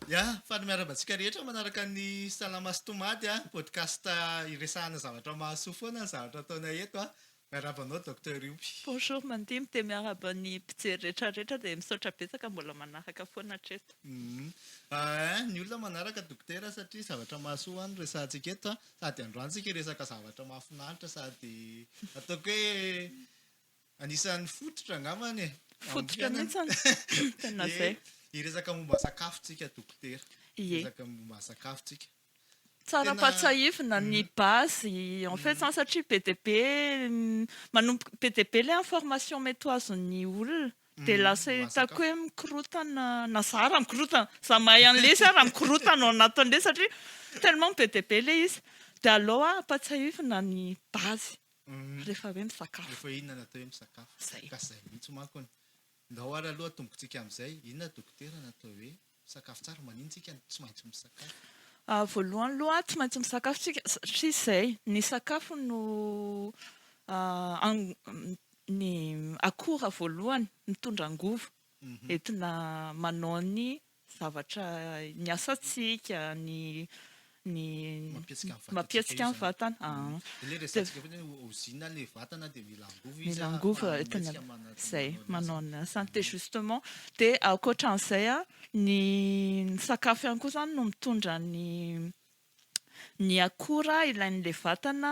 Ya, faly miarahaba antsika rehetra manaraka ny Salama sy Tomady a, podcast iresahana zavatra mahasoa foana ny zavatra ataonay eto a. Miarahaba anao Docteur Iompy. Bonjour Mandimby, dia miarahaba ny mpijery rehetra rehetra dia misaotra betsaka mbola manaraka foana hatreto. Ny olona manaraka Dokotera satria zavatra mahasoa no resahantsika eto a, Sady androantsika hiresaka zavatra mahafinaritra sady ataoko hoe anisan'ny fototra angambany e. Fototra mihitsy an. Tena izay. Hiresaka momba sakafo tsika Dokotera. Ie. Hiresaka momba sakafo tsika. Tsara ampahatsahivina ny base en fait zany satria be dia be manomboka be dia be ilay information mety ho azon'ny olona. Dia lasa hitako hoe mikorotana na za raha mikorotana, za mahay an'i lesy aho raha mikorotana ao anatin'ilay satria tellement be dia be ilay izy dia aleo aho ampatsiahivina ny base rehefa hoe misakafo. Rehefa inona no atao hoe misakafo? Zay. Ka zay mihitsy manko ny. Ndao ary aloha atombontsika amin'izay, inona dokotera no atao hoe Misakafo tsara, manino tsika no tsy maintsy misakafo? Voalohany aloha tsy maintsy misakafo tsika satria izay ny sakafo no ny akora voalohany mitondra angovo entina manao ny zavatra ny asantsika ny ny mampietsika ny vatana ilay resatsika foana hoe ozina ilay vatana dia mila angovo izy mila angovo izay manao ny asany dia justement dia ankoatran'izay ny sakafo ihany koa izany no mitondra ny ny akora ilain'ilay vatana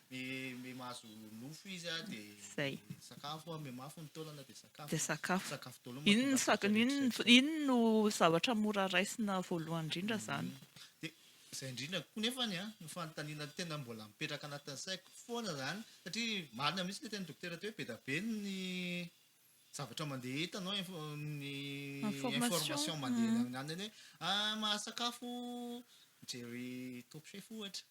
Be mahazo nofo izy a de sakafo a, be mafy ny taolana de sakafo. De sakafo. Sakafo daolo no mahatonga azy rehetra rehetra. Iny no zavatra mora raisina voalohany indrindra zany. De zay indrindra koa nefany a, ny fanontaniana tena mbola mipetraka anatin'ny saiko foana zany, satria marina mihitsy le tenin'i Dokotera teo hoe be da be ny zavatra mandeha hitanao ny information mandeha any amin'ny hoe ah mahasakafo mijery Top Chef ohatra.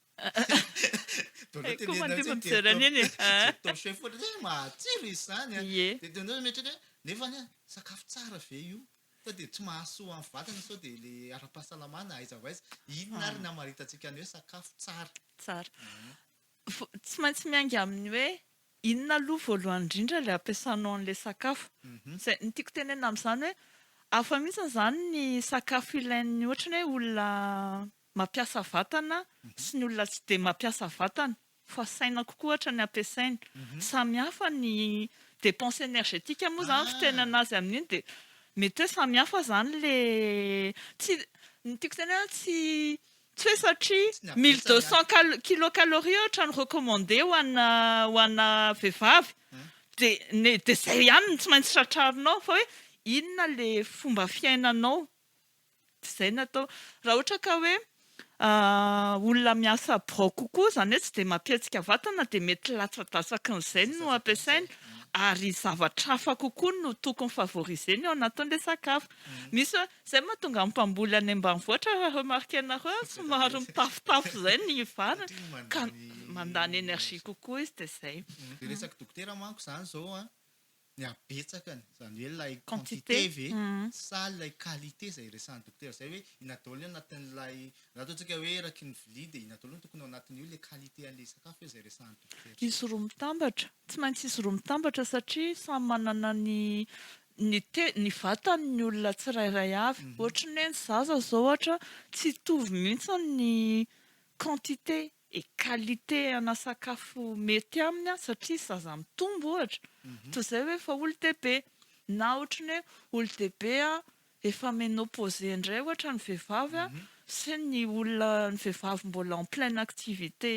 Donat anie ianao tsy mijery torchon foana dia hoe mahatsiro izy izany an, dia ianao izao mieritreritra hoe nefa anie sakafo tsara ve io? sao dia tsy mahasoa amin'ny vatana sao dia ilay ara-pahasalamana aiza ho aiza? inona ary no hamaritantsika ny hoe sakafo tsara? Tsara. Tsy maintsy miainga amin'ny hoe inona aloha voalohany indrindra ilay ampiasanao an'ilay sakafo. Izay ny tiako tenenina amin'izany hoe hafa mihitsy izany ny sakafo ilain'ny ohatran'ny hoe olona mampiasa vatana sy ny olona tsy dia mampiasa vatana fa saina kokoa ohatra ny ampiasaina. Samy hafa ny dépense énergétique moa izany fitenenana azy amin'iny dia mety hoe samy hafa izany ilay tsy ny tiako tenenana tsy tsy hoe satria mille deux cent cal- kilocalories ohatra no recommandé ho ana ho ana vehivavy dia ny dia izay ihany no tsy maintsy tratrarinao fa hoe inona ilay fomba fiainanao Tsy izay no atao. Raha ohatra ka hoe olona miasa birao kokoa, izany hoe tsy dia mampihetsika vatana, dia mety latsa-datsaky ny zay no ampiasaina, ary zavatra hafa kokoa no tokony favoriser-ny ao anatin'ilay sakafo. Misy hoe, izay no mahatonga ny mpamboly any ambanivohitra, raha remarquer-nareo, somary mitafotafo izay ny vary, ka mandany énergie kokoa izy, dia izay. Dia resaky dokotera manko izany izao an, ny habetsakany, izany hoe ilay quantité ve sa ilay qualité izay resahan'ny dokotera izay hoe inona daholo ny anatin'ilay, na ataontsika hoe eraky ny vilia dia inona daholo no tokony ao anatin'io, ilay qualité an'ilay sakafo ve izay resahan'ny dokotera? Izy roa mitambatra, tsy maintsy izy roa mitambatra satria samy manana ny ny te- ny vatany ny olona tsirairay avy. Ohatry ny hoe ny zaza izao ohatra tsy hitovy mihitsy ny quantité et qualité ana sakafo mety aminy satria zaza mitombo ohatra toy izay hoe efa olon-dehibe na ohatran'ny hoe olon-dehibe efa ménopause indray ohatra ny vehivavy sy ny olona ny vehivavy mbola en pleine activité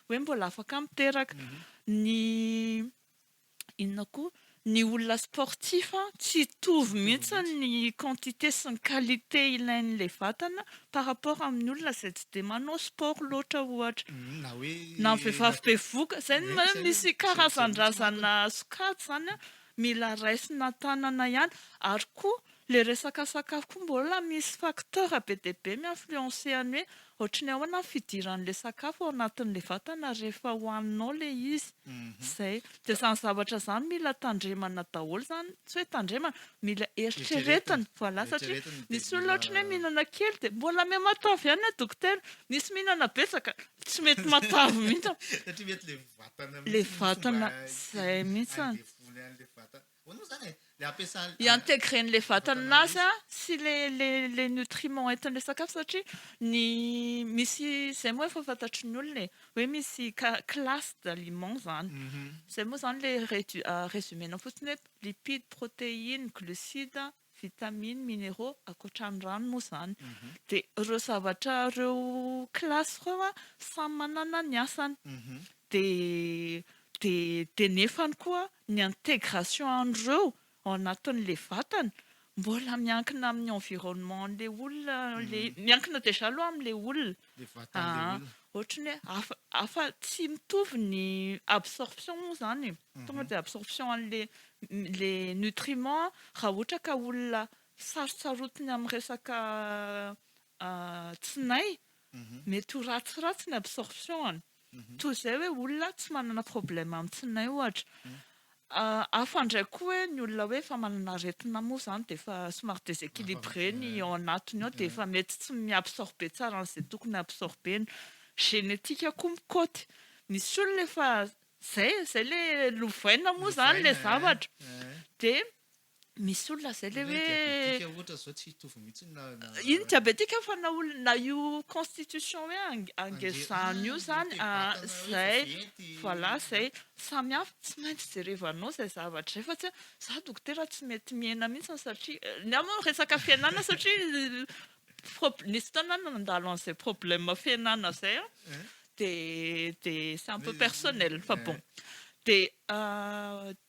hoe mbola afaka miteraka ny inona koa ny olona sportif an, tsy hitovy mihitsy ny quantité sy ny qualité ilain'ilay vatana par rapport amin'ny olona izay tsy dia manao sport loatra ohatra, na ny vehivavy bevoka, izay no hoe misy karazan-drazana sokajy izany an, mila raisina tanana ihany, ary koa Le resaka sakafo koa mbola misy facteur be dia be mi-influencer an'ny hoe ohatry ny ahoana ny fidiran'ilay sakafo ao anatin'ilay vatana rehefa hohaninao ilay izy. Izay. Dia izany zavatra izany mila tandremana daholo izany, tsy hoe tandremana, mila eritreretina. Voilà, satria misy olona ohatry ny hoe mihinana kely dia mbola miha matavy ihany anie dokotera, misy mihinana betsaka tsy mety matavy mihitsy. Satria mety ilay vatana mihitsy no mba te-handevona an'ilay vatana. I-intégrer an'ilay vatany nazy an sy le le le nutriments entin'ilay sakafo satria ny misy zay moa efa fantatry ny olona e hoe misy ka classe d'aliments zany zay moa zany le redu- résumé-nao fotsiny hoe lipides, protéines, glucides, vitamines, minéraux, ankoatran'ny rano moa izany. Dia ireo zavatra ireo classe ireo an, samy manana ny asany. Dia dia nefany koa ny intégration an'ireo ao anatin'ilay vatana mbola miankina amin'ny environnement an'ilay olona, miankina déjà aloha amin'ilay olona. le vatan le olona. Aa ohatry ny hoe hafa hafa tsy mitovy ny absorption moa zany e, tonga de absorption anle le nutriment raha ohatra ka olona sarotsarotiny amin'ny resaka tsinay mety ho ratsiratsy ny absorption-ny. Toa izay hoe olona tsy manana problème am tsinay ohatra. Hafa indray koa hoe ny olona hoe efa manana aretina moa izany dia efa somary déséquilibré ny ao anatiny ao dia efa mety tsy mi absorber tsara an'izay tokony absorber-ny. Génétique koa mikaoty. Misy olona efa izay e, izay ilay lovaina moa izany ilay zavatra dia. Misy olona izay le hoe. Diabetika ohatra zao tsy hitovy mihitsy na. Iny diabetika fa na olona na io constitution hoe angezano io zany zay voilà zay samy hafa tsy maintsy jerevanao zay zavatra zay fa tsy hoe za dokotera tsy mety mihena mihitsy satria ny ahy moa resaka fihenana satria Nisy fotoana aho nandalo an'izay problème fiainana izay an, dia dia c'est un peu personnel fa bon. Dia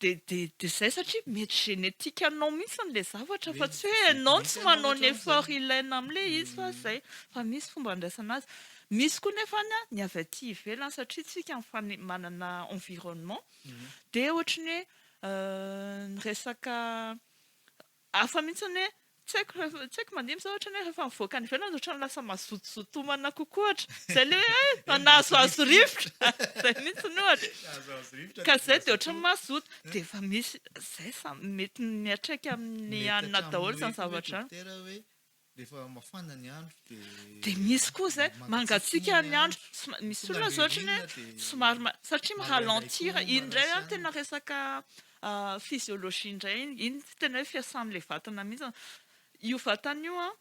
dia dia izay satria mety génétique anao mihitsy ilay zavatra fa tsy hoe ianao tsy manao ny effort ilaina amin'ilay izy fa izay, fa misy fomba andraisana azy. Misy koa nefa ny avy aty ivelany satria isika mifane- manana environnement dia ohatran'ny hoe ny resaka Hafa mihitsy ny hoe tsy haiko rehefa, tsy haiko mandihy mihitsy aho ohatrany hoe rehefa mivoaka any ivelany ohatrany lasa mazotozoto homana kokoa ohatra. Izay ilay hoe hay na nahazoazo rivotra. Izay mihitsy ny ohatra. Nahazoazo rivotra. Ka izay dia ohatrany mazoto. Dia efa misy izay samy mety miatraika amin'ny hanina daholo izany zavatra izany. Dokotera hoe Rehefa mafana ny andro dia. Dia misy koa izay mangatsiaka ny andro, misy olona izao ohatran'ny hoe somary, satria mi ralentir, iny indray an tena resaka physiologie indray iny, iny tena hoe fiasan'ilay vatana mihintsy, io vatana io an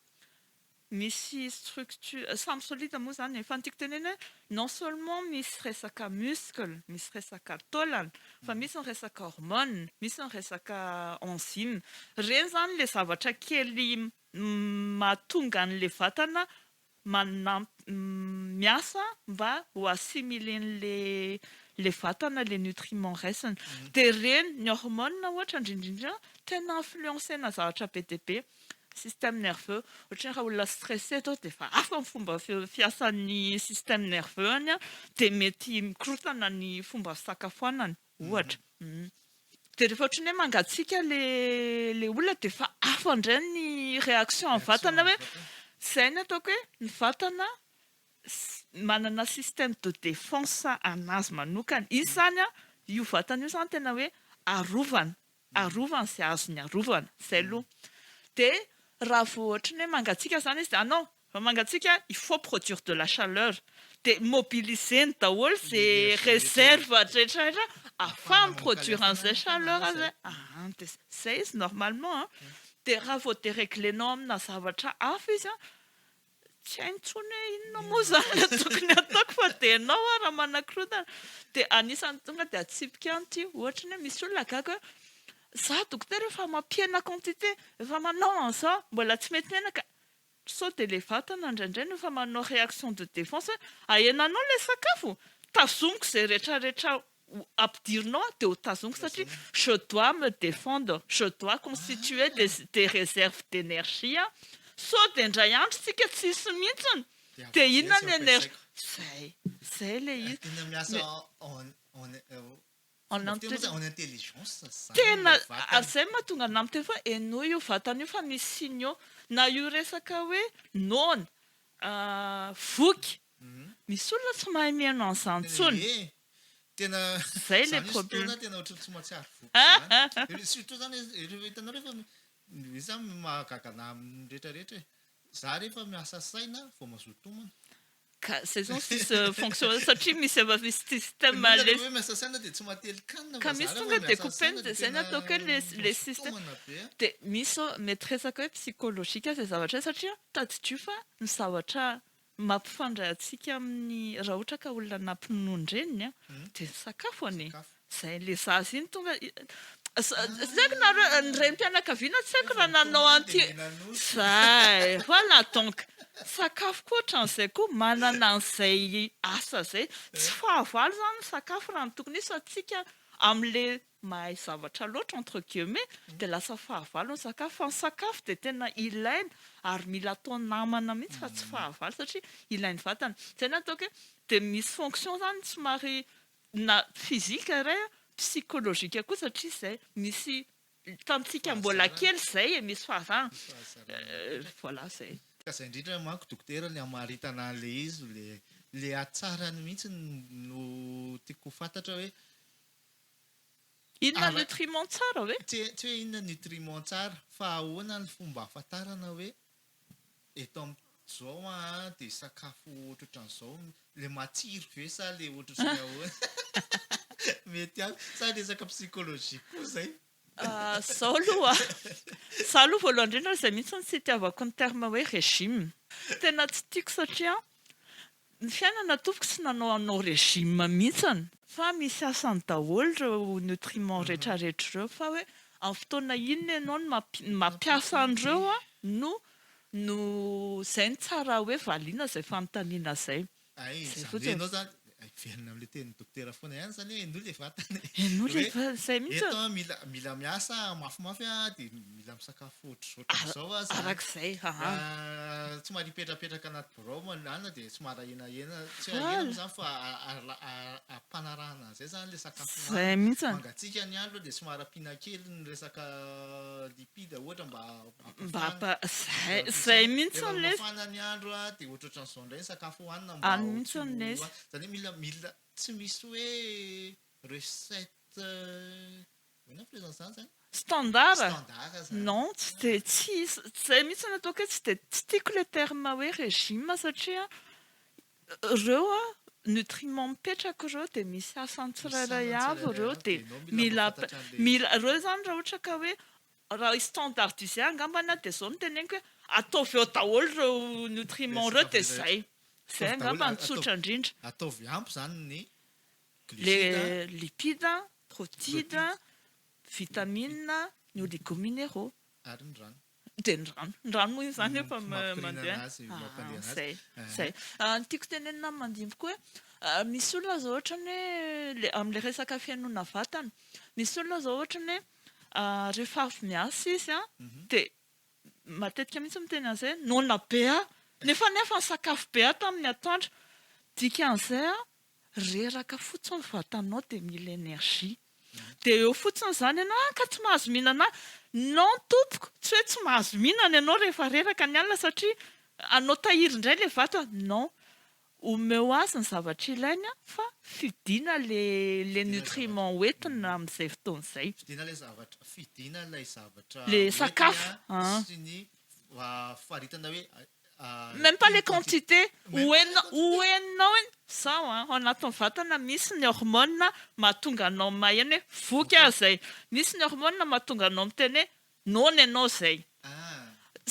misy structure, samy solide moa izany e, fa ny tiako tenenina hoe Non seulement misy resaka muscle, misy resaka taolana, fa misy ny resaka hormone, misy ny resaka enzyme. Ireny izany ilay zavatra kely mahatonga an'ilay vatana miasa mba ho assimilen'ilay vatana ilay nutriments raisiny. Dia ireny, ny hormone ohatra indrindra indrindra, tena influencena zavatra be dia be. Système nerveux, ohatran'ny raha olona stressé atao dia efa hafa ny fomba fiasan'ny système nerveux-ny dia mety mikorontana ny fomba fisakafoanany ohatra. Dia rehefa ohatran'ny hoe mangatsiaka ilay olona dia efa hafa indray ny réaction amin'ny vatana hoe izay no ataoko hoe ny vatana manana système de défense an'azy manokana. Izy izany, io vatana io izany tena hoe arovana Arovany izay azony arovana, izay aloha. Dia raha vao ohatry ny hoe mangatsiaka izany izy dia ah non, raha mangatsiaka il faut produire de la chaleur. Dia mobiliser-ny daholo izay réserve rehetra rehetra ahafaha-mi-produire an'izay chaleur izay. Ah, dia izay izy normalement an. Dia raha vao déregler-nao amina zavatra hafa izy an, Tsy hay intsony hoe inona moa izany no tokony hataoko fa dia ianao ary raha manakorontana dia anisan'ny tonga dia atsipiko ihany ity ohatra ny hoe misy olona gaga hoe za dokotera efa mampihena quantité efa manao an'izao mbola tsy mety menaka sao dia ilay vatana indraindray no efa manao réaction de défense hoe ahenanao ilay sakafo tazomiko izay retraretra ho ampidirinao dia ho tazoniko satria je dois me defendre, je dois constituer des des reserves d'energie an! Sao dia indray andro isika tsy hisy mihitsiny dia inona ny energie? Zay, zay le izy. Tena miasa en en en intelligence. En intelligence zany. Tena ary zay mahatonga anah miteny foana henoy io vatana io fa misy signe eo. Na io resaka hoe noana, voky, misy olona tsy mahay mihaino an'izany intsony. Tena Zay le problème. Zany tena ohatry tsy mahatsiaro voky zany. Surtout zany hitanareo fa zay zany no mahagaga anah amin'ny rehetra rehetra e. Zah re efa miasa saina vao mazoto homana. Ka zay zao sisa fonction satria misy efa misy système le. Ilay hoe miasa saina dia tsy maha telikanina fa zah re vao miasa saina dia tena mazoto homana be a. Dia misy zao mety resaka hoe psychologique zay zavatra zay satria tadidio fa ny zavatra Mampifandray antsika amin'ny raha ohatra ka olona nampinono ny reniny a dia ny sakafo anie izay le zaza iny tonga tsy aiko nareo ny renim-pianakaviana tsy aiko raha nanao an'ity zay voilà donc sakafo koa ohatran'izay koa manana an'izay asa izay tsy fahavalo izany ny sakafo raha ny tokony izy fa tsika amin'le mahay zavatra loatra entre guillemets dia lasa fahavalo ny sakafo fa ny sakafo dia tena ilaina ary mila atao namana mihitsy fa tsy fahavalo satria ilain'ny vatana izay no ataoko hoe dia misy fonction izany somary na physique iray psychologique koa satria izay misy tamintsika mbola kely izay e misy fahazarana voilà izay Ka izay indrindra manko dokotera ny hamaritana an'ilay izy, ilay hatsarany mihitsy no tiako ho fantatra hoe Inona nutriment tsara ve? Tsy tsy hoe inona nutriment tsara fa ahoana ny fomba ahafantarana hoe eto am- zao an dia sakafo ohatrohatran'izao no le matsiro ve sa le ohatrohatran'ny ahoana mety an sa resaka psychologie koa izay? Zao aloha, za aloha voalohany indrindra izay mihitsy no tsy itiavako ny terme hoe régime, tena tsy tiako satria Ny fiainana tompoko tsy nanao anao régime mihintsany. Fa misy sasany daholo ireo nutriments retraretra ireo fa hoe amin'ny fotoana inona ianao no mampiasa an'ireo no no izay no tsara hoe valiana izay fanontaniana izay. Ay izany hoe ianao izany hiverina amin'ilay tenin'ny dokotera foana ihany izany hoe henoy ilay vatana e. Henoy ilay vatana izay mihintsy. Eto mila mila miasa mafimafy dia. mila misakafo ohatr'izao aza. Arak'izay, aha. Somary hipetrapetraka anaty birao manana dia somary ahenahena. Tsy ahenahena moa izany fa ampanarahana an'izay izany ilay sakafo hohanina. Izay mihitsy. Mangatsiaka ny andro dia somary ampiana kely ny resaka lipide ohatra mba hampihana. Izay mihitsy ilay izy. Rehefa mafana ny andro dia ohatrohatran'izao indray ny sakafo hohanina mba ho tsy ho loatra. Izany hoe mila, tsy misy hoe recette. Standard? Non, tsy dia, tsy, izay mihitsy no ataoko hoe tsy dia, tsy tiako ilay terme hoe régime satria ireo an, nutriments mipetraka ireo dia misy asany tsirairay avy ireo dia mila, mila, ireo izany raha ohatra ka hoe, raha hi-standardise angambany dia izao no teneniko hoe, ataovy ao daholo ireo nutriments ireo dia izay. Izay angamba no tsotra indrindra. Ataovy ampy izany ny lipida, protida, vitamina, ny oligominero, dia ny rano, ny rano moa izany efa mandeha, izay, izay. Ny tiako tenenina ny mandimby koa hoe misy olona izao ohatran'ny hoe amin'ilay resaka fihainoana vatana, misy olona izao ohatran'ny hoe rehefa avy miasa izy dia matetika mihitsy miteny an'izay hoe noana be aho, nefa ny sakafo be aho tamin'ny atoandro, dikan'izay Reraka fotsiny ny vatanao dia mila energie. Dia eo fotsiny izany ianao, ah ka tsy mahazo mihinana ah! Non tompoko, tsy hoe tsy mahazo mihinana ianao rehefa reraka ny alina satria hanao tahiry indray ilay vatana, non. Omeo azy ny zavatra ilainy an, fa fidiana ilay nutriment ho entiny amin'izay fotoana izay. Fidiana ilay zavatra, fidiana ilay zavatra ho entiny an, sy ny faritana hoe Même pas les quantités ho henonao ho henonao hoe zao an, ao anatin'ny vatana misy ny hormones mahatonga anao maheno hoe voky aho zay, misy ny hormones mahatonga anao miteny hoe noana ianao zay.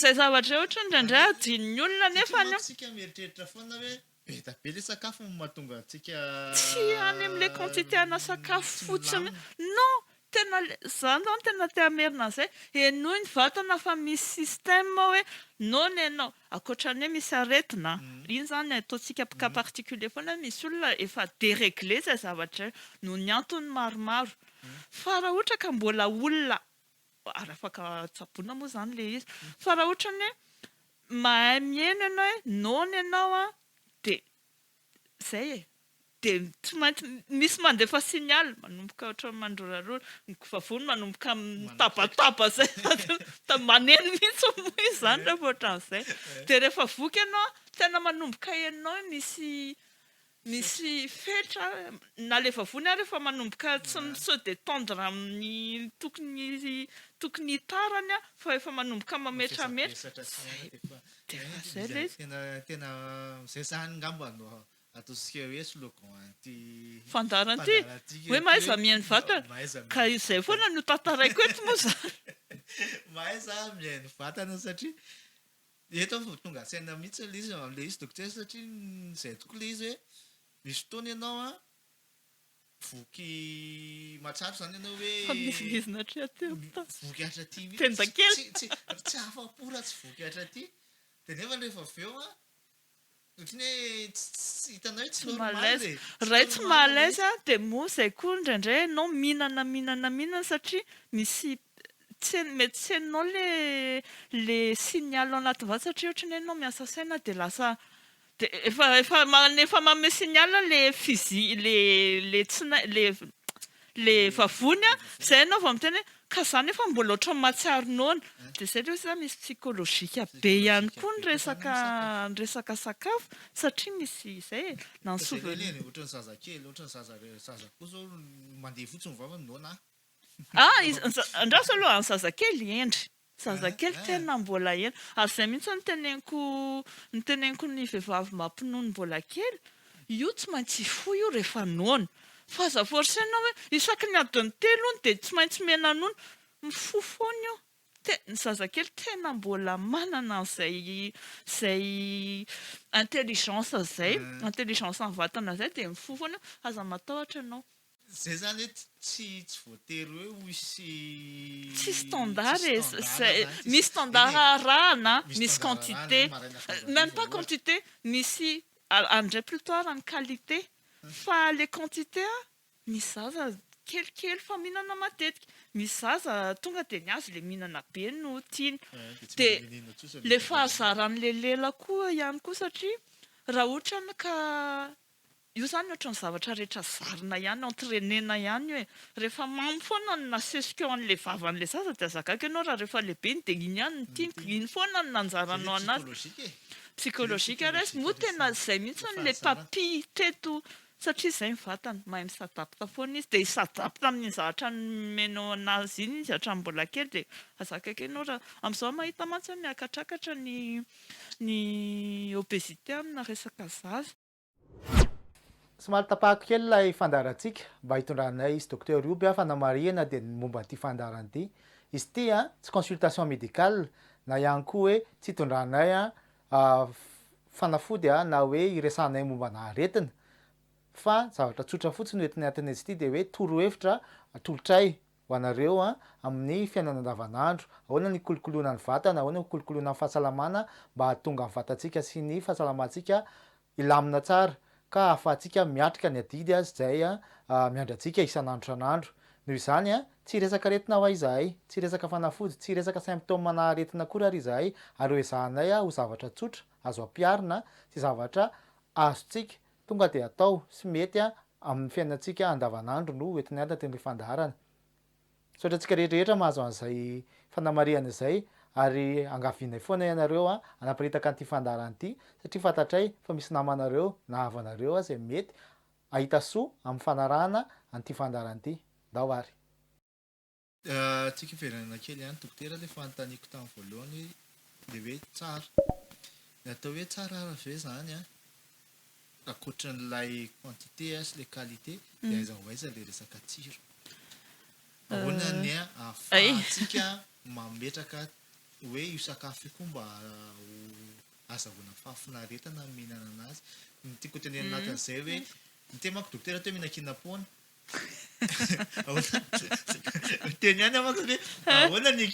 Zay zavatra zay ohatry ny indraindray adinon'ny olona nefany. Hitanao tsika mieritreritra foana hoe Be da be le sakafo no mahatonga antsika. Tsy any amle quantité ana sakafo fotsiny non! Tena le, za zany tena te hamerina an'zay, henoy ny vatana fa misy système hoe noana ianao, akoatrany hoe misy aretina an, iny zany ataontsika cas particulier foana hoe misy olona efa deregle zay zavatra zay noho ny antony maromaro, fa raha ohatra ka mbola olona ary afaka tsaboina moa izany ilay izy. Fa raha ohatra ny hoe mahay mihaino ianao hoe noana ianao an, dia izay e. Dia tsy maintsy misy mandefa signal, manomboka ohatran'ny mandrorarora, ny vavony manomboka mitabataba izay, maneno mihitsy hono moa izy izany rehefa ohatran'izay. Dia rehefa voky ianao an, tena manomboka henonao hoe misy Misy fetra, nalefa vony ary efa manomboka tsy mi-se detendre amin'ny tokony tokony hitarany an, fa efa manomboka mametrametra, zay, de efa zay le izy. Tena tena zay zany ngamba no ataontsika hoe slogan an'ity fandaharan'ity, fandaharan'ity hoe, hoe mahaiza mihaino vatana, mahaiza mihaino ka izay vatana. foana no tantaraiko eto moa zany. Mahaiza mihaino vatana satria Dia eto vao tonga an-tsaina mihitsy ilay izy, ilay izy dokotera satria nizaito koa ilay izy hoe misy fotoana ianao an, voky mahatsapa izany ianao hoe, voky hatraty mihitsy, tsy afa-po raha tsy voky hatraty, dia nefa rehefa avy eo an, Otriny hoe tsy hitanao hoe tsy normal e. Ray tsy maha à l'aise a, dia moa izay koa indraindray ianao mihinana mihinana mihinana satria misy tsen, mety tsy henonao ilay le signal ao anaty vava satria otriny hoe ianao miasa saina dia lasa dia efa efa efa manome signal ilay physi, ilay ilay tsy nai, ilay. le vavony a, zay enao vao miteny hoe ka za nefa mbola ohatran'ny mahatsiaro noana, de zay le hoe za misy psychologique be ihany koa ny resaka ny resaka sakafo satria misy izay e, na ny souvenir. Ohatran'ny zazakely, ohatran'ny zaza re- zaza koa zao mandeha fotsiny ny vavany noana a. Ah, iza- andraso aloha, ny zazakely hendry. Zazakely tena mbola ela. Ary zay mihitsy no teneniko no teneniko ny vehivavy mba mpinono mbola kely, io tsy maintsy hifoha io rehefa noana. Fa aza forcer-na hoe isaky ny adin'ny telo hono dia tsy maintsy mena-nono. Mifoha foana io. Te- ny zazakely tena mbola manana an'izay izay intelligence izay, intelligence an'ny vatana izay dia mifoha foana io. Aza matahotra ianao. Zay zany hoe tsy tsy voatery hoe ho hisy Tsy standard e, zay, misy standard arahana, misy quantité, même pas quantité, misy, any ndray plutot arahana qualité, fa le quantité an, misy zaza kelikely fa mihinana matetika, misy zaza tonga dia ny azy le mihinana be no tiany, dia le fahazaran'le lela koa ihany koa satria raha ohatra ka Io zany ohatran'ny zavatra rehetra zarina ihany, entrainena ihany hoe rehefa mamy foana ny nasesiko eo an'ilay vavan'ilay zaza dia aza gaga ianao raha rehefa lehibe iny dia iny ihany no tiany, iny foana no nanjarano anazy. Psychologique resy, moa tena izay mihitsy no ilay tapis teto satria izay ny vatany, mahay mi-s'adapte foana izy dia hi-s'adapte amin'iny zavatra nomenao anazy iny izy hatramin'ny mbola kely dia aza gaga ianao raha, amin'izao aho mahita mantsy hoe miakatrakatra ny ny obésité amina resaka zaza. Somary tapahako kely ilay fandaharantsika mba hitondranay izy Docteur io bia fanamarihana dia ny momba an'ity fandaharana ity. Izy ity an, tsy consultation médicale na ihany koa hoe tsy hitondranay an fanafody an na hoe hiresahanay momba ana aretina fa zavatra tsotra fotsiny no entinay antenaintsika ity dia hoe torohevitra atolotray Ho anareo an, amin'ny fiainana andavanandro, ahoana ny kolokoloina ny vatana, ahoana ny kolokoloina ny fahasalamana mba hahatonga ny vatantsika sy ny fahasalamantsika hilamina tsara ka ahafahantsika miatrika ny adidy azy izay miandry antsika isan'andro isan'andro. Noho izany an, tsy hiresaka aretina ho'a izahay, tsy hiresaka fanafody, tsy hiresaka symptômes na aretina akory ary izahay ary hoezahanay ho zavatra tsotra, azo ampiharina sy zavatra azontsika Tonga dia atao sy mety amin'ny fiainantsika andavanandro no ho entiny anaty ny fandaharana. Misaotra antsika rehetra rehetra mahazo an'izay fanamarihana izay ary angavianay foana ianareo hanaparitaka an'ity fandaharana ity satria fantatray fa misy namanareo na havanareo aza izay mety hahita soa amin'ny fanarahana an'ity fandaharana ity. Ndao ary. Tsika hiverenana kely ihany Dokotera ilay fanontaniako tamin'ny voalohany hoe ilay hoe tsara. Ny atao hoe tsara ary ve izany an, ankoatra an'ilay quantité sy ilay qualité dia aiza ho aiza ilay resaka tsiro? Ahoana ny ahafahantsika mametraka hoe io sakafo io koa mba azahoana fahafinaretana ny mihinana an'azy? Ny tiako hotenenina anatin'izay hoe, ny tema-ko Dokotera teo mihinan-kena am-poana, Ahoana? Teny ihany aho manko hoe ahoana ny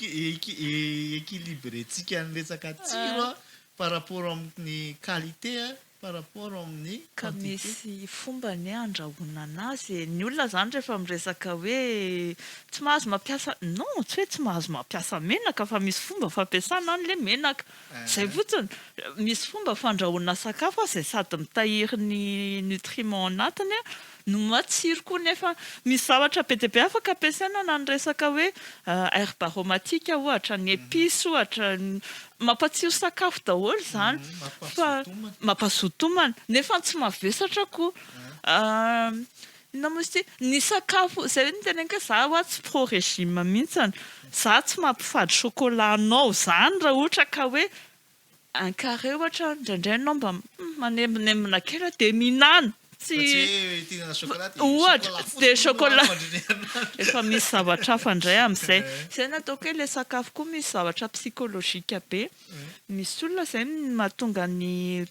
équilibrentsika ny resaka tsiro an, par rapport amin'ny qualité an, par rapport amin'ny quantité. Ka misy fomba anie handrahoana anazy e! Ny olona izany rehefa miresaka hoe tsy mahazo mampiasa, non, tsy hoe tsy mahazo mampiasa menaka fa misy fomba fampiasana an'ilay menaka. Izay fotsiny. Misy fomba fandrahoana sakafo izay sady mitahiry ny nutriments anatiny an. no matsiro koa nefa misy zavatra be dia be afaka ampiasaina na ny resaka hoe herbes aromatiques ohatra, ny epices ohatra, mampatsiro sakafo daholo izany fa mampazoto homana nefa tsy mavesatra koa inona moa izy ity? ny sakafo, izay hoe niteneniko hoe za ho'a tsy pro régime mihintsy, za tsy mampifady chocolat anao izany raha ohatra ka hoe Un carré ohatra, indraindray ianao mba manembonembona kely dia mihinana. Tsy ohatra, tsy dia chocolat. Efa misy zavatra hafa indray amin'izay. Izay no ataoko hoe ilay sakafo koa misy zavatra psychologique be. Misy olona izay mahatonga ny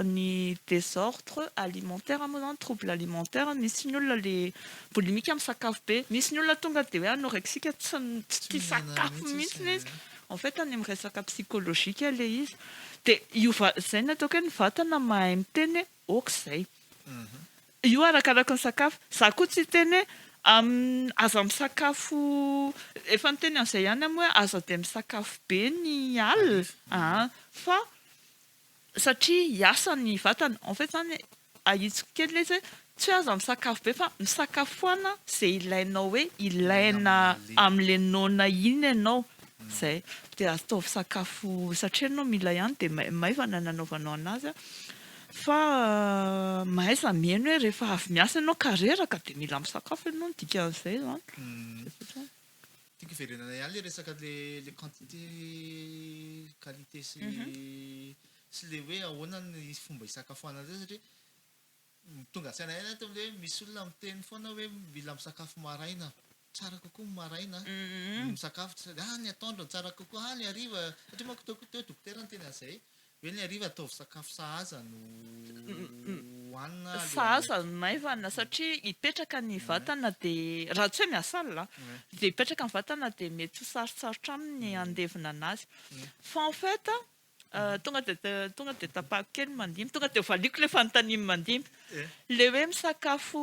ny désordre alimentaire moa izany, trouble alimentaire. Misy ny olona ilay boulimique misakafo be. Misy ny olona tonga dia hoe anorexique, tsy tia sakafo mihitsy ilay izy. En fait any amin'ny resaka psychologique ilay izy dia io va, izay ny ataoko hoe ny vatana mahay miteny hoe ok izay. Io arakaraky ny sakafo. Za koa tsy hiteny hoe aza misakafo, efa niteny an'izay ihany aho moa hoe aza dia misakafo be ny alina an, fa satria hiasa ny vatana, en fait zany ahitsiko kely le izy hoe tsy hoe aza misakafo be fa misakafo foana ze ilainao hoe ilaina amle noana iny enao zay de ataovy sakafo satria enao mila ihany de maivana ny anaovanao anazy a fa mahaiza mihaino hoe rehefa avy miasa enao ka reraka de mila misakafo enao ny dikan'izay zany. Tiako hiverenana ihany le resaka le le quantité qualité sy sy le hoe ahoana ny fomba hisakafoanana zay satria tonga an-tsaina ihany ato le hoe misy olona miteny foana hoe mila misakafo maraina tsara kokoa ny maraina no misakafo, ah ny atoandro no tsara kokoa, ah ny hariva, satria manko teo teo dokotera niteny an'izay, Ve ny hariva ataovy sakafo sahaza no hohanina alohan'ny Sahaza no maivana satria hipetraka ny vatana dia raha tsy hoe miasa alina an, dia hipetraka ny vatana dia mety ho sarotsarotra aminy ny handevina anazy. Fa en fait an, tonga dia tonga dia tapahako kely ny mandimby, tonga dia valiako ilay fanontanian'i mandimby. Ilay hoe misakafo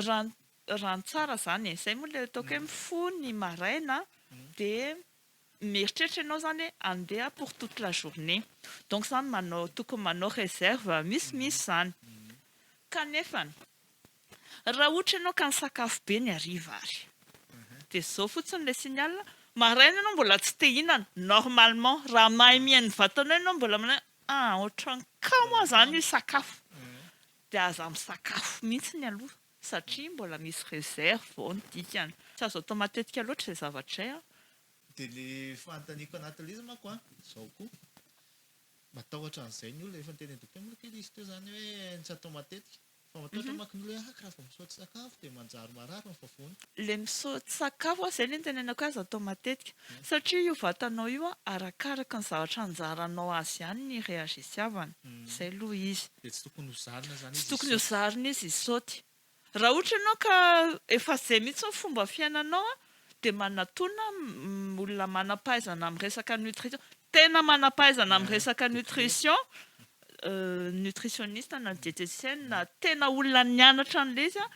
raha raha ny tsara izany e, izay moa ilay ataoko hoe mifoha ny maraina dia mieritreritra ianao izany hoe handeha pour toute la journée donc izany manao tokony manao réserve misimisy izany kanefa raha ohatra ianao ka nisakafo be ny hariva ary dia izao fotsiny ilay signal maraina ianao mbola tsy te hihinana normalement raha mahay mihaino ny vatanao ianao mbola manao hoe ah ohatran'ny kamo aho izany hisakafo dia aza misakafo mihitsy aloha. satria mbola misy réserve ao ny dikany. Tsy azo atao matetika loatra izay zavatra izay an. Dia le fanontaniako anatin'ilay izy manko an, izao koa, matahotra an'izay ny olona, efa niteny an'i Dokotera Moloky izy teo izany hoe ny tsy atao matetika, fa matahotra manko ny olona hoe aka raha vao misaoty sakafo dia manjary marary ny vavony. Ilay misaoty sakafo an, izay ilay nitenenako hoe aza atao matetika, satria io vatanao io an, arakaraka ny zavatra anjaranao azy ihany ny réagisiavany, izay aloha izy. Dia tsy tokony ho zarina zany izy isaoty. Tsy tokony ho zarina izy isaoty. Raha ohatra ianao ka efa zay mihitsy ny fomba fiainanao an, dia manatona olona manampahaizana amin'ny resaka nutrition, tena manampahaizana amin'ny resaka nutrition, nutritioniste na dietetienne na tena olona nianatra an'ilay izy an,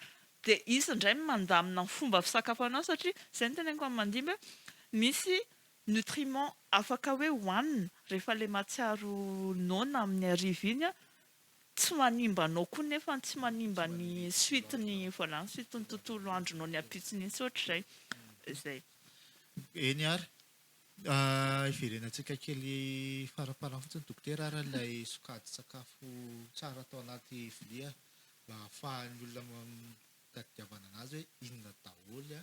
dia izy indray no mandamina ny fomba fisakafoananao satria izay no teneniko amin'ny mandimby hoe misy Nutriments afaka hoe hohanina rehefa ilay mahatsiaro noana amin'ny hariva iny an, tsy manimba anao koa nefa ny tsy manimba ny suite ny voilà ny suite ny tontolo andronao ny ampitsony iny sy ohatr'izay. Izay. Eny ary. Hiverenantsika kely faramparany fotsiny Dokotera ary ilay sokajin-tsakafo tsara atao anaty vilia mba hahafahan'ny olona mitadidiavana an'azy hoe inona daholo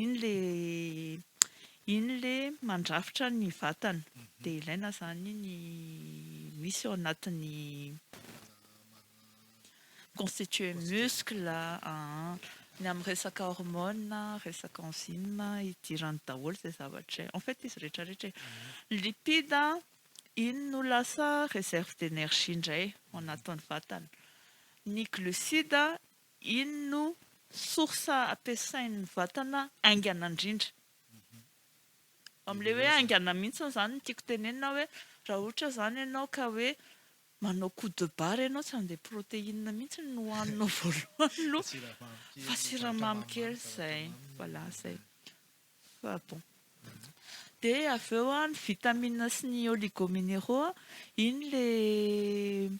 Iny le iny le mandrafitra ny vatana dia ilaina izany ny misy ao anatin'ny constituer muscle ny amin'ny resaka hormone, resaka enzyme idirany daholo izay zavatra izay. En fait izy rehetra rehetra e. Ny lipide iny no lasa réserve d'énergie indray ao anatin'ny vatana. Ny glucides Iny no source ampiasain'ny vatana haingana indrindra. Amin'ilay hoe haingana mihitsy izany no tiako tenenina hoe raha ohatra izany ianao ka hoe manao coup de barre ianao tsy handeha protéine mihitsy no hohaninao voalohany aloha fa siramamy kely izay. Voilà izay. Fa bon. Dia avy eo ny vitamines sy ny oligomineraux, iny ilay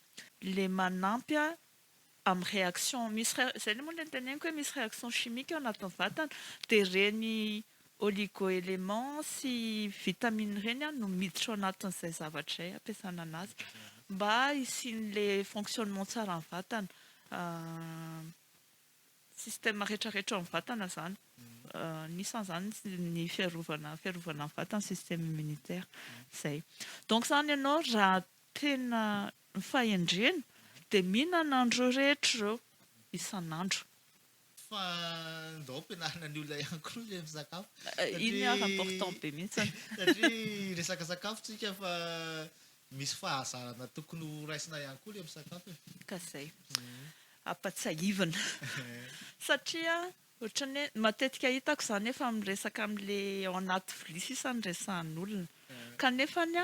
ilay manampy amin'ny réaction misy réa zay le moa le teneniko hoe misy réaction chimique ao anatin'ny vatana de ireny oligo élément sy vitamine ireny an no miditra ao anatin'izay zavatra izay ampiasana anazy mba hisian'le fonctionnement tsara ny vatana système retraretra ao amin'ny vatana zany anisan'izany ny fiarovana fiarovana ny vatana système immunitaire zay donc zany ianao raha tena Ny fahendrena dia mihinana an'ireo rehetra ireo isan'andro. Fa ndao ampianarina ny olona ihany koa ilay misakafo satria. Iny ary important be mihitsiny. Satria resaka sakafo tsika fa misy fahazarana tokony ho raisina ihany koa ilay misakafo e. Ka zay. Ampatsiahivina. Satria ohatran'ny hoe matetika hitako izany efa miresaka amin'ilay ao anaty vilia sisa no resahan'olona. Kanefany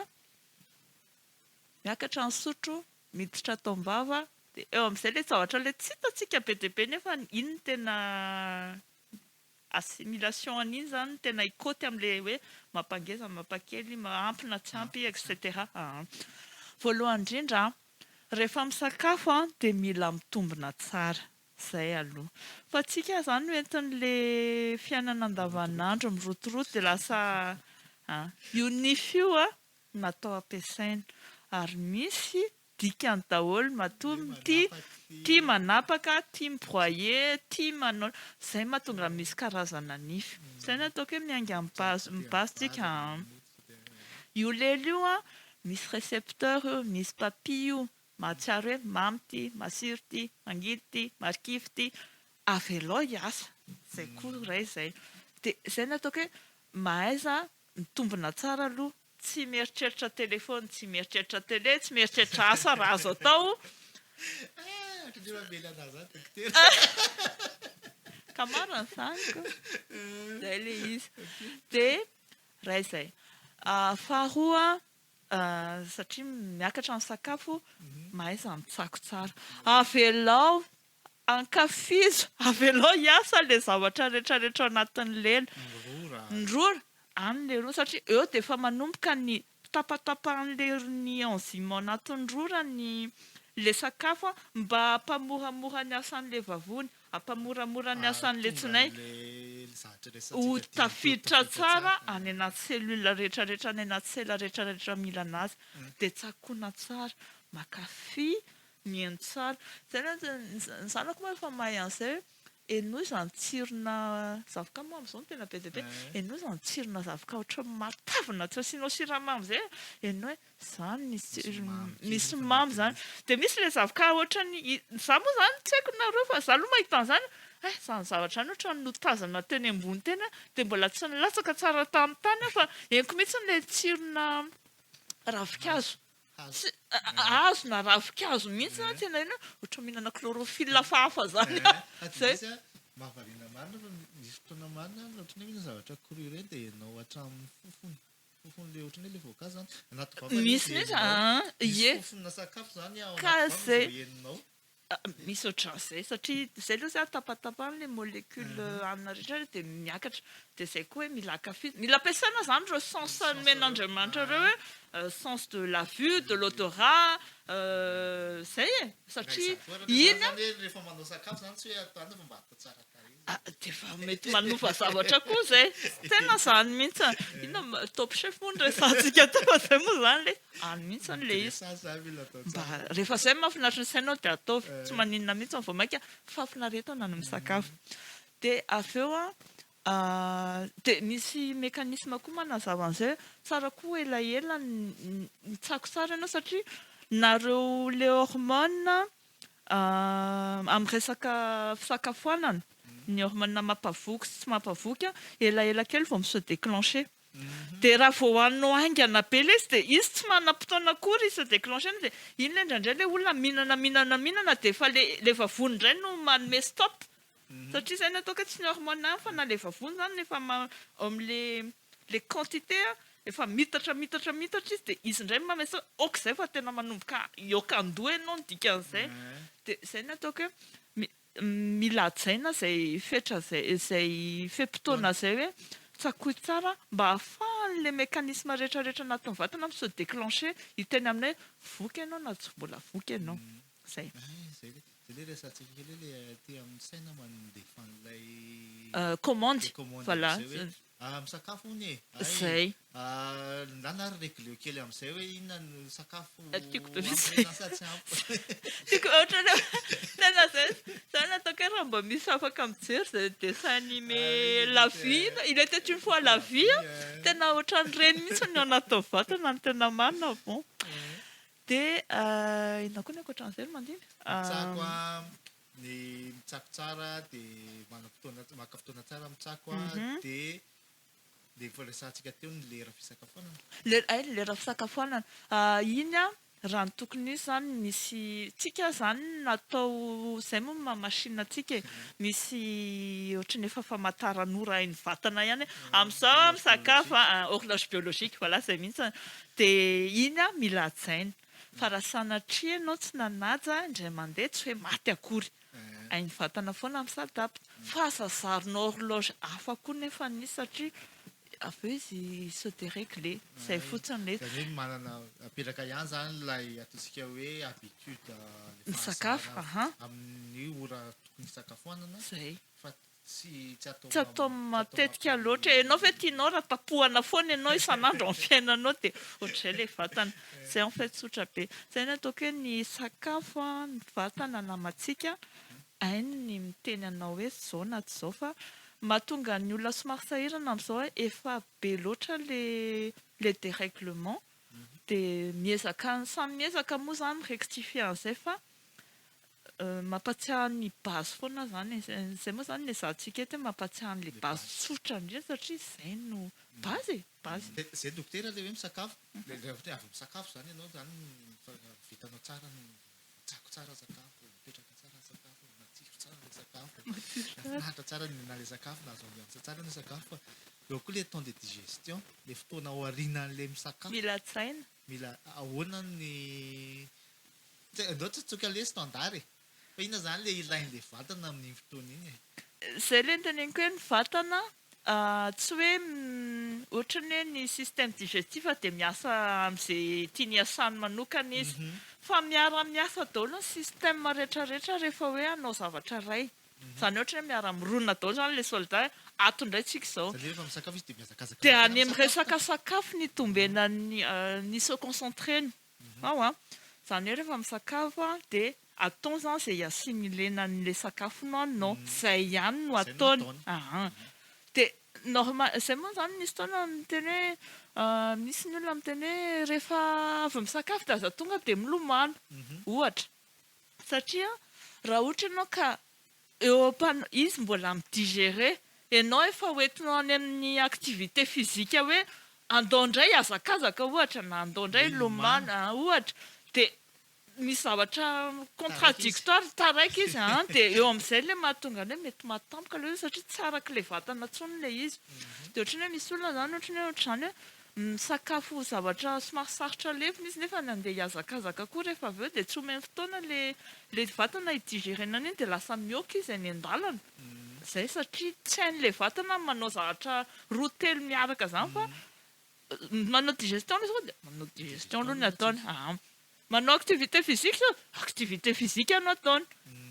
miakatra ny sotro, miditra ato am-bava, dia eo amin'izay ilay zavatra ilay tsy hitantsika be dia be nefa iny no tena assimilation an'iny izany no tena hikôty amin'ilay hoe mampangeza, mampakely, ampy na tsy ampy etc. Voalohany indrindra rehefa misakafo dia mila mitombina tsara, izay aloha, fa tsy ka izany no entin'ilay fiainana andavanandro mirotoroto dia lasa an, io nify io an, natao ampiasaina ary misy dikany daholo matoa mitia, tia manapaka, tia mi-broyer, tia manao izay mahatonga misy karazana nify. Izay no ataoko hoe miainga amin'ny base-tsika an! Io lelo io an, misy recepteur eo, misy papille io mahatsiaro hoe mamy ity, masiro ity, mangidy ity, marikivy ity, avelao hiasa. Izay koa iray izay. Dia izay no ataoko hoe mahaiza Mitombina tsara aloha. Tsy mieritreritra téléphone, tsy mieritreritra télé, tsy mieritreritra asa raha azo atao. Ah, ohatran'ny hoe mamely anah zany dokotera. Ka marina izany ko. Zay le izy. De ray izay. Faharoa, satria miakatra ny sakafo, mahaiza mitsako tsara. Avelao Ankafizo, avelao hiasa ilay zavatra rehetra rehetra ao anatin'ny lela. Ny rora, any ilay rora satria eo dia efa manomboka ny tapatapahan'ilay enzyme ao anatin'ny rora ny ilay sakafo a, mba hampamoramora ny asan'ilay vavony, hampamoramora ny asan'ilay tsinay ho tafiditra tsara any anaty cellule rehetra rehetra, any anaty sela rehetra rehetra mila anazy, dia tsakoana tsara. Makafy Mihaino tsara. Zay ny azy, ny zanako moa efa mahay an'izay hoe henoy izany tsirona zavoka moa amin'izao no tena be dia be, henoy izany tsirona zavoka ohatran'ny matavina tsy asianao siramamy izay a, henoy hoe izany ny tsirony, misy mamy izany. Dia misy ilay zavoka ohatran'ny, izaho moa izany tsy haiko nareo fa izaho aloha mahita an'izany hoe hay izany zavatra izany ohatran'ny notazana teny ambony teny aho dia mbola tsy nilatsaka tsara tamin'ny tany aho fa henoko mihitsy ilay tsirona ravinkazo. Tsy hazo na ravin-kazo mihitsy zany tsy hainao inona, ohatra mihinana chlorophylle hafahafa zany a! Zay. Izy a, mahavariana marina fa misy fotoana marina ary ohatran'ny hoe mihinana zavatra cru ireny dia henao hatramin'ny fofony, fofon'ilay ohatran'ny hoe ilay voankazo zany, anaty vava ilay izy dia henonao. Misy fofona sakafo zany ao anaty vava vao henonao. Misy ohatran'izay satria izay aloha zany tapatapahana ilay molecule hanina rehetra dia miakatra. Dia izay koa hoe mila ankafizina. Mila ampiasaina izany ireo sens nomen'Andriamanitra ireo hoe sens de la vue, de l'odorat, izay e. Satria iny an. Izany hoe rehefa manao sakafo izany tsy hoe ataonao fa mba Dia mety manofa zavatra koa izay. Tena izany mihitsy. Inona moa, Top Chef moa no resahantsika teo fa izay moa izany ilay izy. Any mihitsy ilay izy. Dressage izany mila atao tsara. Mba rehefa izay no mahafinaritra ny sainao dia ataovy. Tsy maninona mihitsy aho vao mainka fahafinaretana ny misakafo. Dia avy eo an, dia misy mécanisme koa manazava an'izay hoe tsara koa elaela ny, mitsako tsara ianao satria nareo le hormone Amin'ny resaka fisakafoanana, ny hormones mampavoky sy tsy mampavoky, elaela kely vao mi-se déclencher. Dia raha vao hohaninao haingana be ilay izy dia izy tsy manam-potoana akory hi-se déclencher dia iny ilay indraindray ilay olona mihinana mihinana mihinana dia efa ilay vavony indray no manome stop. Satria zay no atao ka tsy ny hormones ihany fa na le vavony zany rehefa am le le quantité a efa mitatra mitatra mitatra izy de izy indray manao hoe ok zay fa tena manomboka hiôka andoha ianao ny dikan'izay de zay no ataoko hoe mi- mila hajaina zay fetra zay zay fe-potoana zay hoe tsakoy tsara mba hahafahan'ny le mécanisme rehetra rehetra anatin'ny vatana mi-se déclencher hiteny aminay hoe voky ianao na tsy mbola voky ianao. Zay. Commande, voilà. Zay. Tiako be mihitsy. Tiako ohatrany hoe tena zay, za nataoko hoe raha mba misy afaka mijery zay dessin anime la vie, il etait une fois la vie, tena ohatran'ireny mihitsy no anaty tao vatana no tena marina bon. Dia inona koa ny ankoatran'izay no mandimby? Mitsako aho, ny mitsako tsara dia manana fotoana, maka fotoana tsara mitsako aho dia ilay efa resahantsika teo ny lera fisakafoanana. Lera, hay ny lera fisakafoanana. Iny an, raha ny tokony hisy izany misy, tsika izany natao izay moa ny maha machine antsika e, misy ohatran'ny efa famataran'ora hain'ny vatana ihany hoe amin'izao aho misakafo an, horloge biologique, voilà izay mihitsy, Dia iny aho mila hajaina. Fa raha sanatria ianao tsy nanaja ahy indray mandeha, tsy hoe maty akory. Hain'ny vatana foana mi-s'adapte. Fa aza zarina horloge hafa koa nefa ny izy satria avy eo izy se deregler. Izay fotsiny ilay izy. Izany hoe manana, apetraka ihany izany ilay ataontsika hoe habitude, ilay fahazarana amin'ny ora tokony hisakafoanana. Izay. Fa Tsy atao matetika loatra e. Ianao ve tianao raha tapohana foana ianao isan'andro amin'ny fiainanao dia ohatr'izay ilay vatana. Izay en fait tsotra be. Izay no ataoko hoe ny sakafo, ny vatana namantsika hainy ny miteny anao hoe izao na tsy izao fa mahatonga ny olona somary sahirana amin'izao hoe efa be loatra ilay dérèglement dia miezaka, samy miezaka moa izany mi-rectifier an'izay fa Mampatsiahy ny base foana izany e. Izay moa izany no ezahantsika eto hoe mampatsiahy an'ilay base tsotra indrindra satria izay no base e, base. Izay dokotera ilay hoe misakafo, ilay ohatra hoe avy misakafo izany ianao izany fa vitanao tsara ny, tsako tsara ny sakafo, mipetraka tsara ny sakafo, matsiro tsara ilay sakafo, mahafinaritra tsara ny mihinana ilay sakafo, mahazo ambiance tsara ilay sakafo fa eo koa ilay temps de digestion, ilay fotoana aorianan'ilay misakafo. Mila hajaina. Mila ahoana ny Tsy andao tsotsoka lesy standard e! Fa inona zany le ilain'le vatana amin'iny fotoana iny e? Zay le niteneniko hoe ny vatana tsy hoe ohatrany hoe ny système digestif dia miasa amze tiany hiasany manokana izy fa miara miasa daholo ny système retraretra rehefa hoe hanao zavatra iray. Zany ohatra hoe miara mironona daholo zany le soldat e, ato ndray tsika izao de any am resaka sakafo no itombenan'ny ny se concentrer ny ao a, zany hoe rehefa misakafo a de atao zany ze hi-assimiler anle sakafo nohaninao, zay ihany no ataony aa, de normal zay moa zany misy fotoana miteny hoe misy ny olona miteny hoe rehefa avy misakafo de aza tonga de milomano ohatra, Satria raha ohatra ianao ka eo am-pan-, izy mbola mi-digerer, ianao efa ho entinao any amin'ny activité physique hoe andao indray hiazakazaka ohatra na andao indray hilomano ohatra dia misy zavatra contradictoire, taraiky izy an, dia eo amin'izay ilay mahatonga an'ilay hoe mety mahatampoka ilay hoe satria tsy arak'ilay vatana intsony ilay izy. Dia ohatran'ny hoe misy olona izany ohatran'ny hoe ohatr'izany hoe. misakafo zavatra somary sarotra levona izy nefa nandeha hihazakazaka koa rehefa avy eo dia tsy omeny fotoana ilay vatana hi-digérer-na an'iny dia lasa mihoaka izy any an-dalana izay satria tsy hain'ilay vatana ny manao zavatra roa telo miaraka izany fa manao digestion aloha izy koa dia manao digestion aloha ny ataony Manao activité physique zao, activité physique no ataony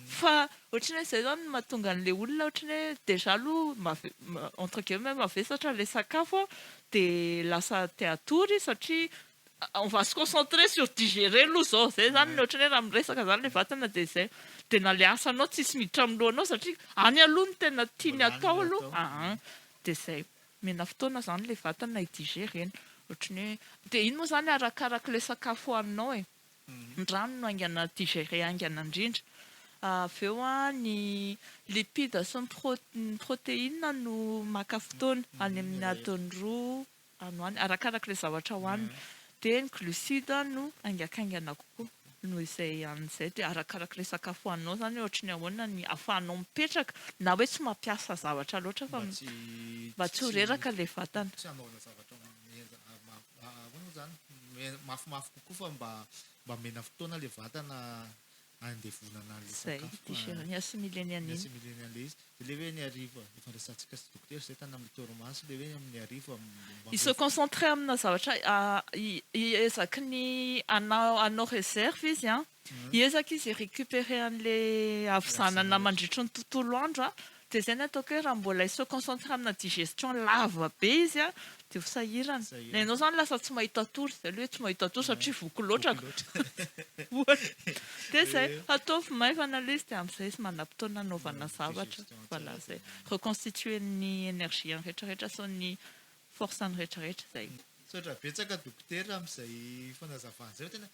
fa ohatry ny hoe izay izany no mahatonga an'ilay olona ohatry ny hoe déjà aloha mave- entre guillemets mavesatra ilay sakafo dia lasa te hatory izy satria on va se concentrer sur digérer aloha izao, izay izany no ohatry ny hoe raha miresaka izany ilay vatana dia izay, dia na ilay asanao tsisy miditra amin'ny lohanao satria any aloha no tena tiany atao aloha, aa dia izay. Mena fotoana zany le vatana hi diger reny otrany hoe de iny moa zany arakarak le sakafo hoaninao e ny rano no aingana diger aingana indrindra avy eo a ny lipide sy ny proteine no maka fotoana any aminy adiny roa any ho any arakarak le zavatra hoanina de ny glucide no haingakaingana kokoa. noho izay an'izay dia arakarak'ilay sakafo hohaninao izany hoe ohatry ny ahoana ny ahafahanao mipetraka na hoe tsy mampiasa zavatra loatra fa mba tsy ho reraka ilay vatana. Tsy hanaovana zavatra ahoana moa izany, mafimafy kokoa fa mba mba omena fotoana ilay vatana handevonana an'ilay sakafo. Izay, ny assimileny an'iny. Ny assimileny an'ilay izy. Dia ilay hoe ny hariva ifandraisantsika sy dokotera izay tany amin'ny torimaso, ilay hoe amin'ny hariva mba I se mety. concentrer amina zavatra hiezaky ny hanao reserve izy an, hiezaka izy hi-recuperer an'ilay havizanana mandritry ny tontolo andro an, dia izay ny ataoko hoe raha mbola hi-se concentrer amina digestion lava be izy an, Dia ho sahirana. Na ianao izany lasa tsy mahita tory, izay aloha hoe tsy mahita tory satria voky loatra ka. Ohatra. Dia izay, ataovy maivana aloha izy dia amin'izay izy manam-potoana hanaovana zavatra. Voilà izay. Reconstituer ny énergie-ny rehetrarehetra sy ny force-ny rehetrarehetra izay. Misaotra betsaka dokotera amin'izay fanazavana izay fa tena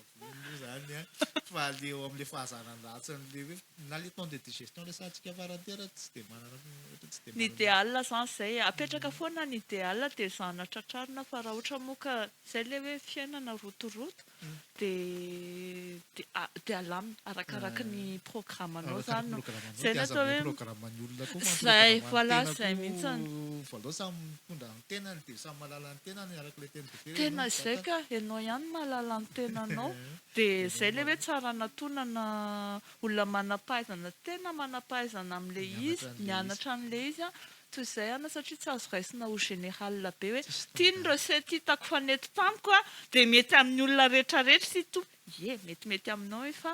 Io zany an, fa le eo amle fahazana ny ratsy an le hoe na le temps de digestion resahantsika farany teo raha tsy de manana ohatra tsy de manana. Ny ideal zany zay e, apetraka foana ny ideal de ezahana tratrarina fa raha ohatra moa ka zay le hoe fiainana rotoroto de de alamina arakaraky ny programme nao zany no, zay no atao hoe, zay, voilà zay mihitsy. Tenany dia samy mahalala ny tenany araka ilay teny Joker ianao Tena izay mizaka. ka, ianao ihany mahalala ny tenanao. Dia Ianao izay ilay hoe mahalala. tsara anatonana olona manam-pahaizana tena manam-pahaizana amin'ilay Mianatra izy, an'ilay izy. mianatra an'ilay izy an, toy izay ianao satria tsy azo raisina ho général be hoe Tsisy ity ny standard. recette hitako fa nety tamiko an, dia mety amin'ny olona rehetra rehetra ity toa, ie, metimety aminao io fa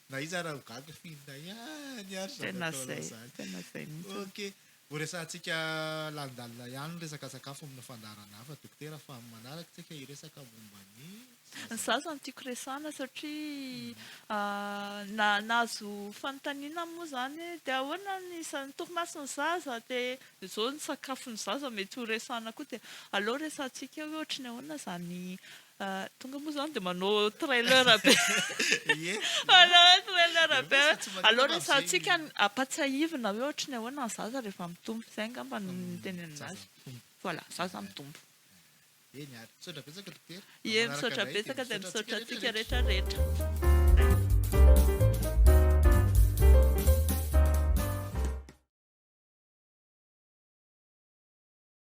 Na iza ara ho gaga f'inona ihany ary zany ataonao zany. Tena zay mihitsy. Ok. Ho resahantsika lalindalina ihany ny resaka sakafo amina fandaharana hafa Dokotera fa amin'ny manaraka isika hiresaka momba ny zaza. Ny zaza no tiako resahana satria na nahazo fanontaniana moa zany hoe dia ahoana ny ny torimaso ny zaza dia izao ny sakafon'ny zaza mety ho resahana koa dia aleo resahantsika hoe ohatry ny ahoana zany Ahh tonga moa zany dia manao trailer be Ie Manao trailer be Ireo sady tsy manina Aleo mampijery resahantsika ny ampatsahivina hoe ohatry ny ahoana ny zaza rehefa mitombo zay angamba no Ny teny amin' zaza azy mitombo. Voilà zaza mitombo Eny ary, misaotra betsaka dokotera. Ie Manaraka misaotra indray, betsaka dia misaotra antsika rehetra rehetra.